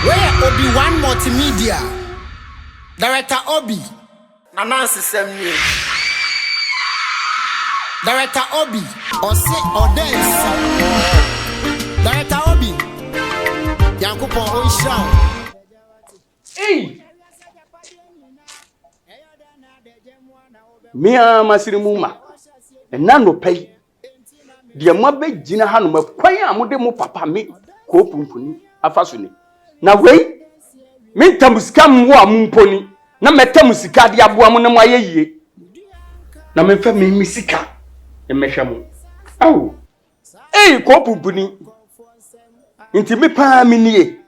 Wei yɛ Obi Wan Multimedia, Director Obi. Anansesɛm nie, Director Obi. Ɔse ɔda nsi, Director Obi. Nyankopɔn ɔnhyira wo. Ei! Me ara m'asene mu ma. Ɛnnɛ anɔpa yi deɛ moabɛgyina hanom kwan a mode mo papa me koo pumpuni afa so ni na wei menta mo sika mmoa a momponi na mɛtɛ mo sika de aboa mo na moayɛ yie na memfa me me sika mmɛhwɛ mo ao ei koo pumpuni nti me paa menie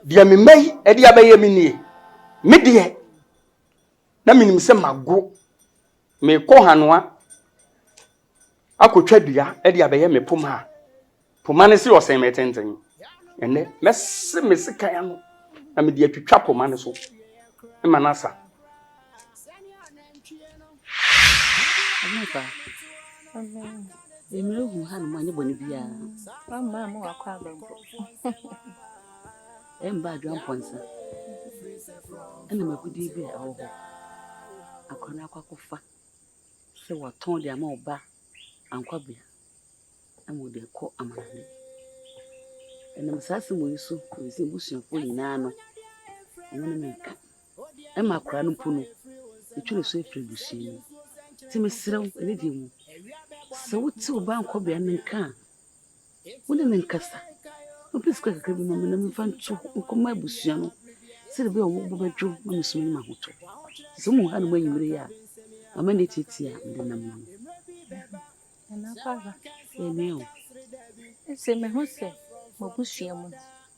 deɛ memma yi ɛde abɛyɛ menie me deɛ na menim sɛ mago Merekɔ Hanoa akɔtwa dua de abɛyɛ me poma a poma no se ɔsɛn me tenten. Ɛnnɛ, mɛse me sekan ano na mede atwitwa poma no so ma no asa. Mmerɛhu Hanoa nyɛ bɔne biara. Wamma amu wakɔ aba mpo. Ɛmba Adwoa Mpɔnsa na m'agodie bi a ɛwɔ hɔ. Akora no akɔ akɔfa sɛ wɔatɔn de ama ɔba Ankwabea ama ɔde akɔ amanade. Ɛnam saa asɛm yi so na ɛsɛ abusuafoɔ nyinaa no wɔn ne me nka. Ɛma akora no mpo no ɛtwa ne so afiri abusua no mu. Nti mesrɛ wo ɛne deɛ mu sɛ wote ɔba Ankwabea no nka a Wone me nkasa. Na ɔpɛ sika kakra bi ma me na memfa nto hɔ nkɔma abusua no sɛdeɛ ɛbɛyɛ a wɔn bo bɛdwo na mesum anim ahotɔ. Sɛ wohu hanom anwummere yi a, mama no atiatia a mede nam no. Nana Kwara. Ɛnyɛ o. Ɛsɛ mehu sɛ m'abusua mu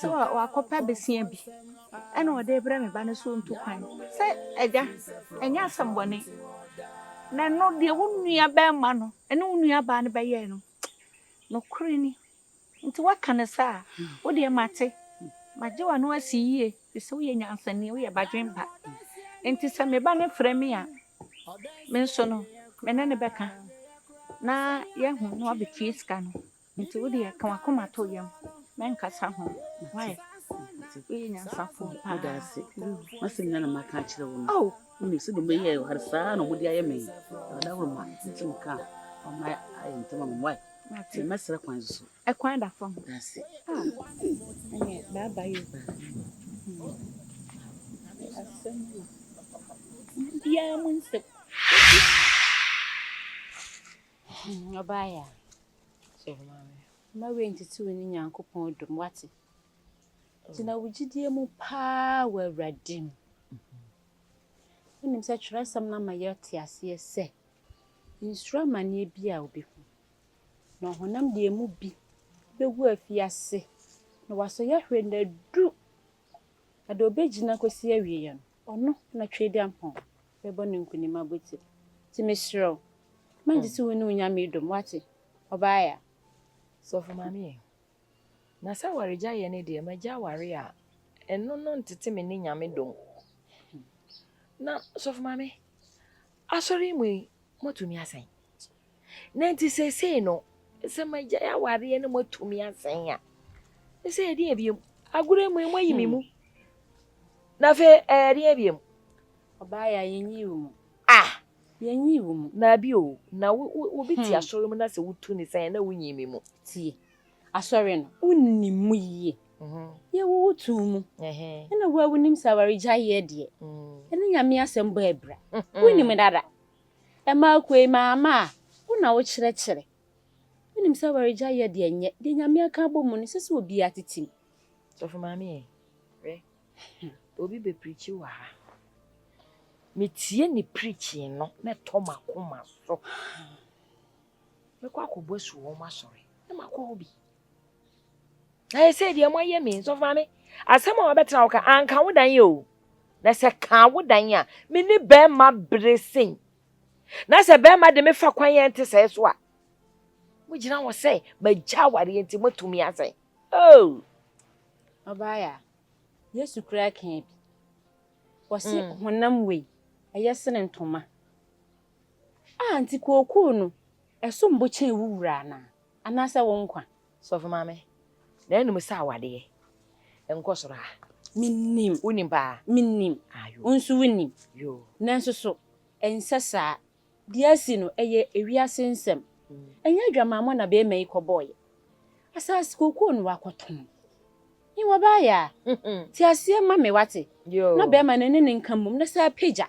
So wakɔpɛ bosea bi na ɔde rebrɛ me ba no so ntu kwan? Sɛ, Agya, ɛnyɛ asɛmmɔne. Na ɛno, deɛ wo nuabarima no ne wo nuabaa no bɛyɛe no, nokorɛ ni. Enti woaka no saa a, wo deɛ mate. Magye w'ano asi yie, ɛfiri sɛ woyɛ nyansani, woyɛ badwempa. Enti sɛ me ba no frɛ me a, me nso no, me ne no bɛka, na yɛahu na wabɛtua sika no. Nti wo deɛ ka w'akoma to yam mɛnkasa ho why woyɛ nyansafo paa. Meda ase masɛm nyina na maka akyerɛ wo no wonim sɛ dɔm bɛyɛ ɔhare saa na ɔmode ayɛ me ɔda woro ma nti meka ɔma ayɛ ntɛma me why nti mɛsrɛ kwan so so ɛkwan da fam da ase ɛnyɛ baaba yo asɛm biara mu nsɛm Ɔbaeɛ a, sɔre ma me. Mma wei ntete wo ne Nyankopɔn dɔ mu, woate? Gyina wo gyidie mu paa wɔ Awurade mu. Wonim sɛ twerɛsɛm no ama yɛte aseɛ sɛ, nsuro amaneɛ bi a wobɛhu. Na ɔhonam deɛ ɛmu bi bɛgu afi ase, na wasɔ yahwɛ nna du, na deɛ ɔbɛgyina kɔsi awieɛ no, Ɔno na Tweaduampɔn bɛbɔ no nkonim abotiri. Nti mesrɛ wo, ma gye sɛ wo ne wo Nyame dom, woate? Ɔbaa ya. Sɔfo Maame e, na sɛ awaregyaeɛ no deɛ magya awareɛ a, ɛno no ntete me ne Nyame dom. Na Sɔfo Maame, Asɔre yi mu yi, moato nua sɛn? Na nti seesei no, sɛ magyae awareɛ na moatu me asɛn a, ne sɛ ɛdeɛ biom, agorɔ yi mu yi moayi me mu. Na afei ɛdeɛ biom. Ɔbaa yɛ a yɛnyi wo mu. Ah! Yɛnyi wo mu. Na bi o, na wobi te asɔre mu na sɛ wotu ne sɛn na wonyi me mu. Tie, asɔre no, wonni mu yie. Yɛwo wo too mu. Ɛna wo a wonim sɛ awaregyaeɛ deɛ, ɛne Nyame asɛm bɔ abira. Wonim dada. Ɛma akoe maama a, wo na wokyerɛkyerɛ. Wonim sɛ awaregyae yɛ deɛ ɛnyɛ, deɛ Nyame aka abɔ mu no, ɛsɛ sɛ obiara tete mu. Sɔfo Maame ɛ, hwɛ, obi bɛ preachi wɔ ha, metie ne preaching no na ɛtɔ m'akoma so. Mɛkɔ akɔbɔ asu wɔ wɔn asɔre na makɔ hɔ bi. Na yɛ sɛ deɛ moayɛ me nsɔfo maame asɛm a wɔbɛtena wo ka anka wo dan yɛ o na sɛ kaa wo dan a me ne bɛrima bere sen na sɛ bɛrima de me fa kwan yɛn te sɛɛ so a mogyina hɔ sɛ magya awareɛ nti moatumi asɛe oh ɔbaeɛ yesu koraa kaa bi wɔse mm. honam wei ɛyɛ sene ntoma A, nti kookoo no, ɛsom bo kyɛn wo wura anaa? Anaasɛ wo nkwa? Sɔfo maame, na ɛnum sɛ awadeɛ nkɔ soro a? Mennim. Wonim paa? Mennim. Ah, yoo. Wo nso wonim. Yoo. Nanso so ɛnsɛ saa? Deɛ asi no, ɛyɛ ewiase nsɛm. Ɛnyɛ adwamammɔ na barima yi kɔbɔeɛ. Asaase kookoo no wakɔtɔn. He, wɔbaeɛ a, te aseɛ ma me, woate? Yoo. Na barima no ne ne nka mmom, na saa pagya.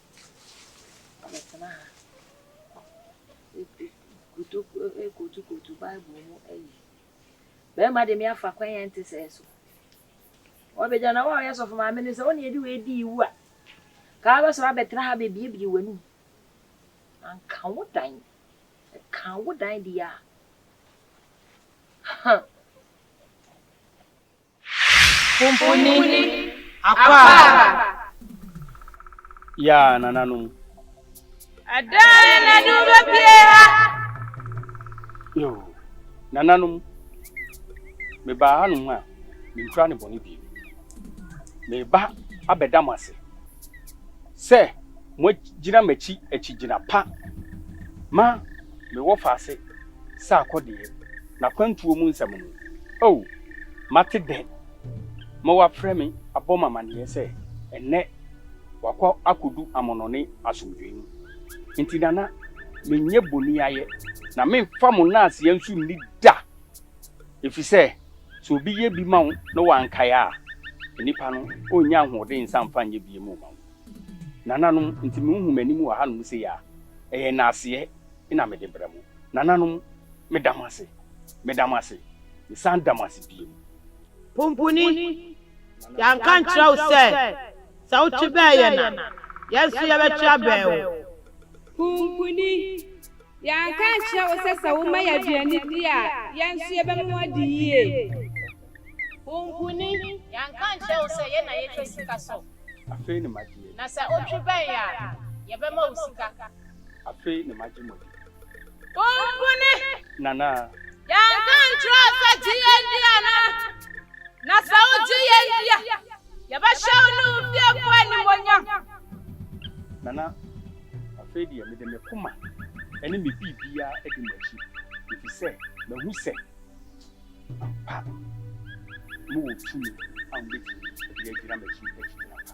Abɛtsena ha ekotokoto Bible mu eyi. Bɛrima de me afa kwan a ɛnte sɛɛ so. Wɔbɛgya na wo a ɔyɛ sɔfo maame no sɛ wo na yɛde wei di iwu a, ka abɛsɔre abɛtena ha bɛbiebie w'anum. Anka wo dan, ɛka wo dan deɛ a, ha. Mfunini, Akwara. Yɛ a nananom. Ɛdɛn na ɛde wo bɛpue ha? Yoo, nananom, mebaa hanom a menkura ne bɔne bio. Mereba abɛda mo ase sɛ moagyina m'akyi akyigyina pa ma mewɔ faase sɛ akɔdeɛ. n'akwantuo mu nsɛm no, O! Mate dɛ ma wɔafrɛ me abɔ me amaneɛ sɛ ɛnnɛ wakɔ akɔdu amɔnɔne asomdwoeɛ mu. Enti Nana, menyɛ boniayɛ, na meremfa mo nnaaseɛ nso nni da, ɛfiri sɛ sɛ obi yɛ bi ma wo na wankae a, nnipa no ɔrennya ahoɔden nsa mfa nyɛ bio mma wo. Nananom, enti monhu m'anim wɔ hanom sei a, ɛyɛ nnaaseɛ na mede brɛ mo. Nananom, meda mo ase, meda mo ase, mesan da mo ase bio. Pumpuni, yɛanka ankyerɛ wo sɛ, sɛ wotwe bɛn yɛn a, yɛn nso yɛbɛtwe abɛn wo? Pumpuni, yɛanka ankyerɛ wo sɛ, sɛ woma yɛn aduane di a, yɛn nso yɛbɛma woadi yie? Pumpuni, yɛanka ankyerɛ wo sɛ, yɛn na yɛtwa sika so? Afei ne m'adeɛ. Na sɛ wotwe bɛn yɛn a, yɛbɛma wo sika. Afei na magye mo adi. Wompene. Nana. Yɛanka nkyerɛɛ wo sɛ gye yɛn di anaa? Na sɛ wogye yɛn di a, yɛbɛhyɛ wo ne wo fiefo animuonyam. Nana, afei deɛ mede me koma ne me biribiara adi mo akyi, efisɛ mahu sɛ ampa mowɔ tumi a mobɛtumi de agyina m'akyi akyigyina pa.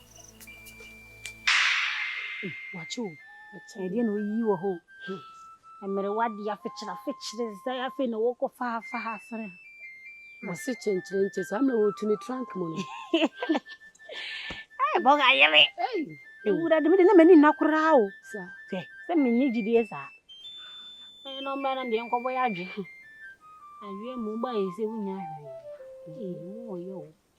wakye o ɛdeɛ na ɔyi wɔ hɔ mmerewa de afekyere afekyere sɛ afei na wɔkɔ faafa ha sene wɔse kyenkyerɛ nkyɛ saa mmerɛ wɔtu ne trank mu no bɔga yere ɛwura de mede na m'ani nna koraa o sɛ sɛ menni gyidie saa ɛyɛ na ɔmmɛ no deɛ nkɔbɔ yɛ adwe adwe mu ba yɛ sɛ wonya hwee mu ɔyɛ o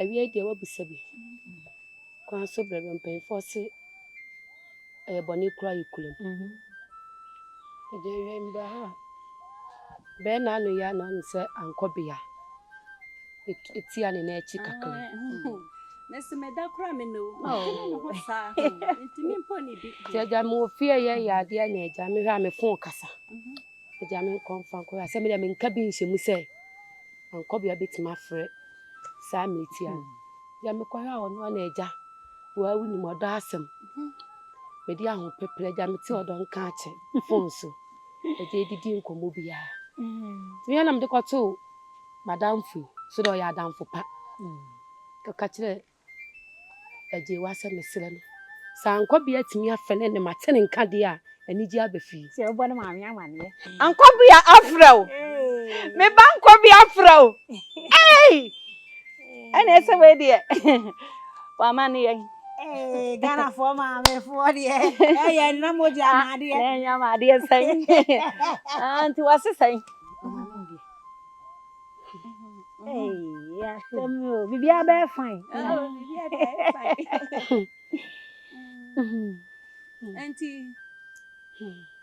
awiei deɛ wabisa bi kwan so berɛ bɛ mpanyinfoɔ se ɛyɛ bɔne kura yɛ kura mu mhm. ɛdeɛ yɛ mbra ha bɛɛ na ano yɛ na ɔne sɛ ankɔ bea ɛtia ne na akyi kakra mesi me da kora me no ntumi mpo ne bi nti agya me wɔ fie yɛ yɛ adeɛ na agya mehwɛ a me fon kasa agya me nkɔmfa nkɔyɛ asɛ me deɛ menka bi nhyɛ mu sɛ Mankɔbea bɛtumi afrɛ saa mmerɛ tia no. Deɛ mekɔhwɛ a ɔno ara na agya waa wonim ɔdɔ asɛm. Mede ahopeprɛ agya mete ɔdɔ nka akyɛ fon so. Agya ɛdidi nkɔmmɔ biara. Tumi ana mede kɔtoo madamfo yi so dɛ ɔyɛ adamfo pa. Kɔka kyerɛ Agye wo asɛ mesrɛ no. Sɛ Ankwabea atumi afɛ ne ne ma te ne nka deɛ a, anigyeɛ aba fie. Sɛ wobɔ ne maame amaneɛ. Ankwabea afrɛ wo. Me ba Ankwabea afrɛ wo. Ei! Ɛneɛ sɛ wei deɛ wama ne yɛn. Ee, Ghanafoɔ maamefoɔ deɛ ɛyɛ nna mogya ma adeɛ. Na ɛnya ma adeɛ sɛn. Nti wase sɛn? biribiara bɛyɛ fine nti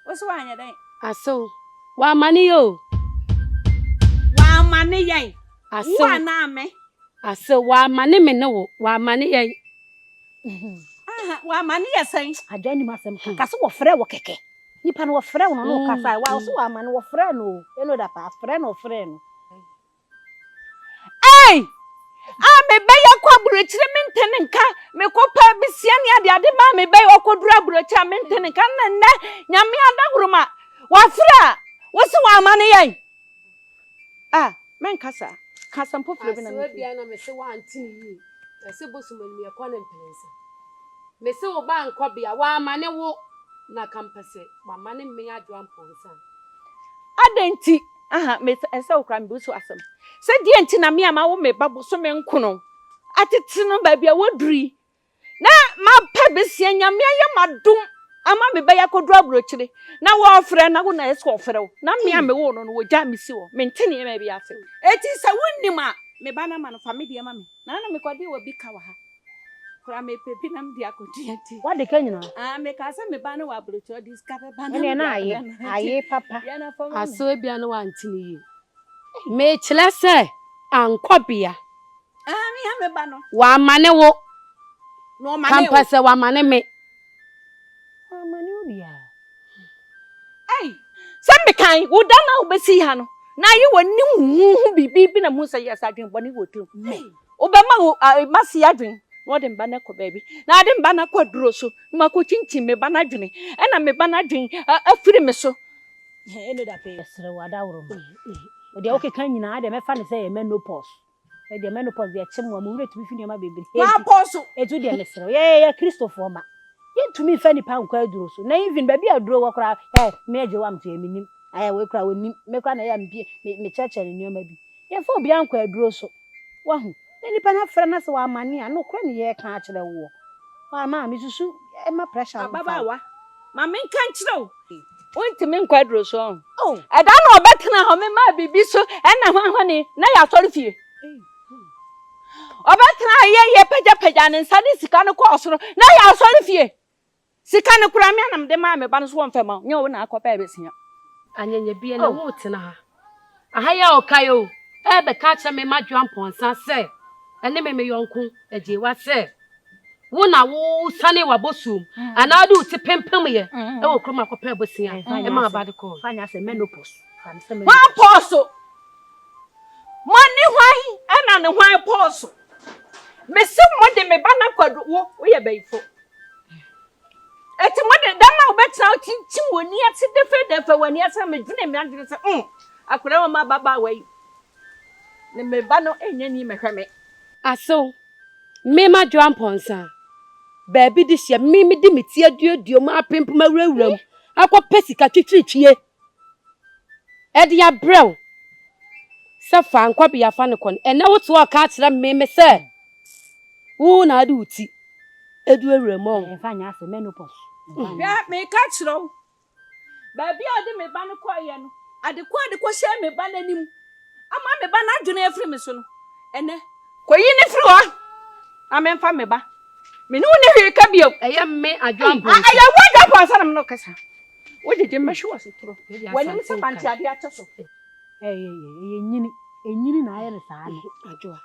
woso woanyɛ dɛn asew wama ne yɛ o wama ne yɛn asew wo anaa me asew wama ne me ne wo wama ne yɛn wama ne yɛ sɛn adwa nim asɛm ka so wɔfrɛ wɔ kɛkɛ Nipa no wɔfrɛ no no kasa wa ɔsɛ wama no wɔfrɛ no o ɛno da paa frɛ no ɔfrɛ no. Ei a mebɛyɛ kɔ aburokyire mente ne nka mekɔ pɛ besia ne ade ade maa mebɛyɛ ɔkɔduru aburokyire a mente ne nka na nnɛ nyame adahoroma wafrɛ a wosɛ wama no yɛn Ah mɛnkasa ka asɛm foforɔ bi na me firi. Asewa bia na me se wante ne yie na se bosom anim yɛ kɔ ne mprensa me se wo ba nkɔ bia wa ma ne wo na ka mpɛ se wa ma ne me adwoa mponsa. Adɛn nti aha me sɛ ɛsɛ wo koraa me busu asɛm sɛ deɛn nti na me a ma wo me ba bosome nkono atete no baabi a waduru yi Na mapɛ besia Nyame ayɛ ma dom ama me bɛyɛ akɔduru aburokyire na wɔɔfrɛ na wo na ɛsɛ ɔfrɛ wo na me a me woo no no wɔgyaa me si hɔ mente nneɛma bi ase eti sɛ wo nim a me ba no ma no fa me deɛ ma me na na me kɔde wɔ bi ka wɔ ha koraa me pɛ bi na me de akɔ dua eti wade ka nyina aa me kaa sɛ me ba no wɔ aburokyire ɔde sika bɛ ba na me de abrɛ no eti ayɛ papa yɛ na fama asɛ ebia no wante ne yie me kyerɛ sɛ ankɔ bea. W'amane wo. Kampa sɛ w'amane me. Sɛ mekan wo da no a wobɛsii ha no, na ayɛ w'anim huhu biribi bi na mu sɛ yɛsɛ adwene bɔne wɔ tirim. Wobɛma wo mma si adwene na wɔde mma no akɔ baabi. Na wɔde mma no akɔ aduro so na wɔakɔkyinkyim me ba no adwene. Ɛna me ba no adwene afiri me so. Ɛne da pɛɛ. Yɛsrɛ wo, Adaworoma, deɛ wokeka nyinaa deɛ mɛfa no sɛ ɛyɛ menopause. Ɛdeɛ menopause deɛ ɛkyem wa, mo werɛ tumi fi nneɛma bebree bi. Maapɔn so. Enti wo deɛ mesrɛ wo, yɛyɛ Kristofoɔ mma, yɛntumi mfa nnipa nkɔ aduro so. Na even baabi a aduro wɔ koraa, eh, me agya wɔ amteɛ, menim. Ayɛ wei koraa, ɔnim. Me koraa na ɛyɛ a mepie, me, mekyerɛkyerɛ no nneɛma bi. Yɛmfa obiara nkɔ aduro so. Wahu? Na nipa no afrɛ no sɛ wamane a, nokorɛ na yɛreka akyerɛ woɔ. Wamma a, mesusu ɛmma pressure mfa wo. Ababaawa, ma menka nkyerɛ wo. Wontumi nkɔ aduro so ɔn. Ɛda na ɔbɛtena hɔ me maa biribi so ɛna ho ahoni na yɛasɔre fie. Ɔbɛtena hɔ yɛ yɛ pagyapagya ne nsa de sika no kɔɔ soro na yɛasɔre fie. Sika no koraa me anam de maa me ba no so wɔmfɛ ma wo nyɛ wo na akɔpɛ bɛsia. Anyanyabiɛ na woretena ha. Aha yi a ɔkae o, ɛrebɛka akyerɛ me m'adwoa mpɔnsa sɛ, ɛne me me yɔnko agyeewa sɛ, wo na wosane w'abosuom anaa wode wo ti pempemyɛ wɔ kurom akɔpɛ abosea ɛma aba de kɔɔ. Fa nyɛ asɛ menopause. Fa no sɛ menopause. Hwan pɔɔso? Mo ne hwan ɛna ne hwan pɔɔso? Mese mo de me ba no akɔdu wo woyɛ bayifo. Enti mode dam a wobɛtena wo kyinkyin w'ani ase dɛfɛdɛfɛ w'ani ase na medwene me adwene sɛ mm akwadaa wɔ ma ababaawa yi ne me ba no ɛnyɛ ni mɛhwɛ me asew me ma dwoa mpɔnsa baabi de hyɛ me mede me ti aduadua mu apempem awurawura mu akɔpɛ sika twitwiritwie. de abrɛ wo sɛ fa nkɔ bea fa no kɔ no, ɛnnɛ wote hɔ ka kyerɛ me me sɛ wo na wode wo ti adu awura mu ɔ. Ɛmfa nyɛ asɛm, menopause. Hwɛ, meka kyerɛ wo, baabi a ɔde me ba no kɔeɛ no, ade ko a ɔde kɔhyɛɛ me ba no anim ama me ba no adwene afiri me so no, ɛnnɛ kɔyi no firi hɔ na memfa me ba. Me ne wo nni hwee ka bio. Ɛyɛ me Adwoa Mponsa. Ɛyɛ wo Adwoa Mponsa na me ne wo kasa. Wogyegye me mɛhwe w'asetoro. W'anim sɛ mante adeɛ akyɛ so. Ɛyɛ nyini nyini na ayɛ no saa no.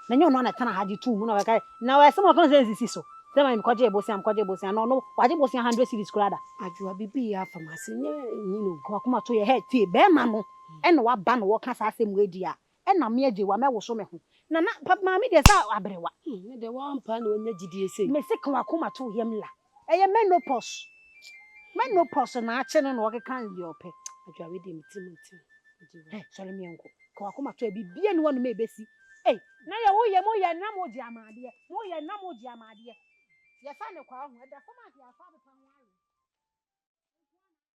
Na nyɛ ɔno na ɛtena ha gye too mu na ɔbɛka na ɔyɛ sɛ ɔka sɛ nsisi so. Sɛ ma mekɔgye bosea mekɔgye bosea na ɔno wagye bosea hundred cedis koraa da. Adwoa biribi yɛ afa m'ase nyɛ nyini o. W'akoma to yɛ hɛɛt tie bɛɛma no ɛna waba na wɔka saa asɛm wei deɛ a Ɛna me agyewa mɛ woso me ho. Na na pa maame deɛ saa aberewa. Hmm ne deɛ waa mpaa na wanya gyidie sei. Me se ka wakoma to yam la. Ɛyɛ menopause menopause na akye no na ɔkeka deɛ ɔpɛ. Adwoa wei deɛ me tirim nte ho. Hɛ sɔre me yɛnko ka wakoma to biribiara nni hɔ nom a ɛbɛsi ei. Na yɛ wo yɛ mo yɛ na mo gye amadeɛ mo yɛ na mo gye amadeɛ yɛ sa ne kwaa ho ɛda fam a deɛ afa abepa ho awe.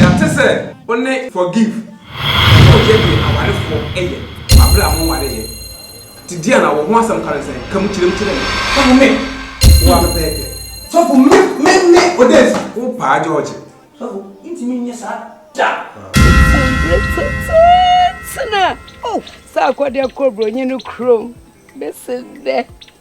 Yɛate sɛ wo ne Forgive nso reyɛ deɛ awarefoɔ yɛ wɔ berɛ a monwareeɛ. Te deɛn na wo ho asɛm ka no sɛn? Ka mu kyerɛ mu kyerɛ me. Ɛne me wo a pɛpɛɛpɛ. Sɔfo me me me Odesi. Wo paa George. Sɔfo ntumi nyɛ saa da. Ɔte mbrɛ tsetseetse na oh sɛ akɔdɛ kɔ bronyi no kurom bese dɛ.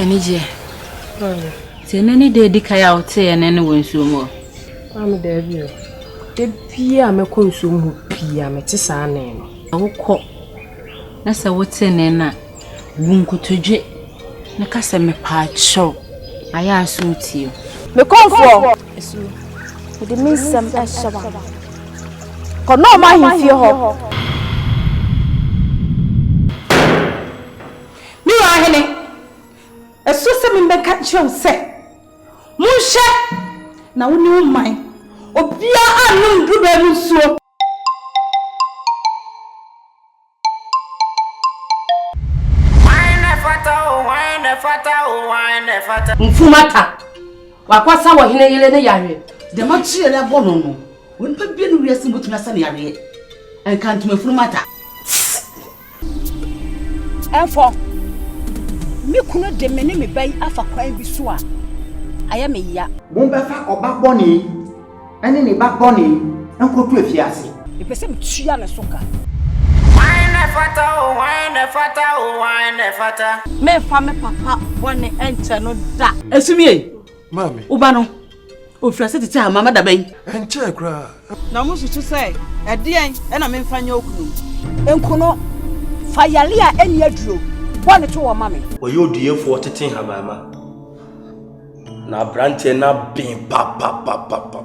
Anigyeɛ. Sɛ ɛnɛ ne da adi kan a woteeɛ ne ne wɔ nsuo mu hɔ. Maame daabi o. Da bia a mɛkɔ nsuo mu hɔ pii a mete saa ne no. Wokɔ na sɛ wote ne no a, bu nkotodwe na ka sɛ mepaakyɛw ayɛ a so wotie o. Mekɔmfoɔ. So mede me nsɛm hyɛ w'ano. Kɔ Naaman ahemfie hɔ. Me wura hene, ɛsɛ sɛ mebɛka nkyerɛ wo sɛ, Monhwɛ na wo ne wo man, obiara annom dubaa mu nsuo. Hwan na ɛfata o, hwan na ɛfata o, hwan na ɛfata? Mfumata, wakɔsa wɔ hene yere ne yareɛ. Dɛm akyiri a yɛabɔ no no, onipa biara ne wiase mu bɛtumi asa ne yareɛ. Ɛnka ntomafunu mata. Ɛmfɔ. Me kunu de me ne me ba yi afa kwan bi so a ayɛ me ya. Mommɛfa ɔba bɔne ne ne ba bɔne nkɔto afiase. Mepɛ sɛ metua ne so ka. Hwan na ɛfata o, hwan na ɛfata o, hwan na ɛfata? Meremfa me papa bɔne nkyɛ no da. Esum yei, Maame. Wo ba no, ɔfiri ase tete a, mama da bɛn? Ɛnkyɛɛ koraa. Na mosusu sɛ, Ɛdeɛn na memfa nyɛ okunu? Nkono, fa yareɛ a ɛnni aduro bɔ ne toɔ ma me. Ɔyɛ ɔduyefoɔ tete nhamaama. Na abranteɛ no aben papapapapa.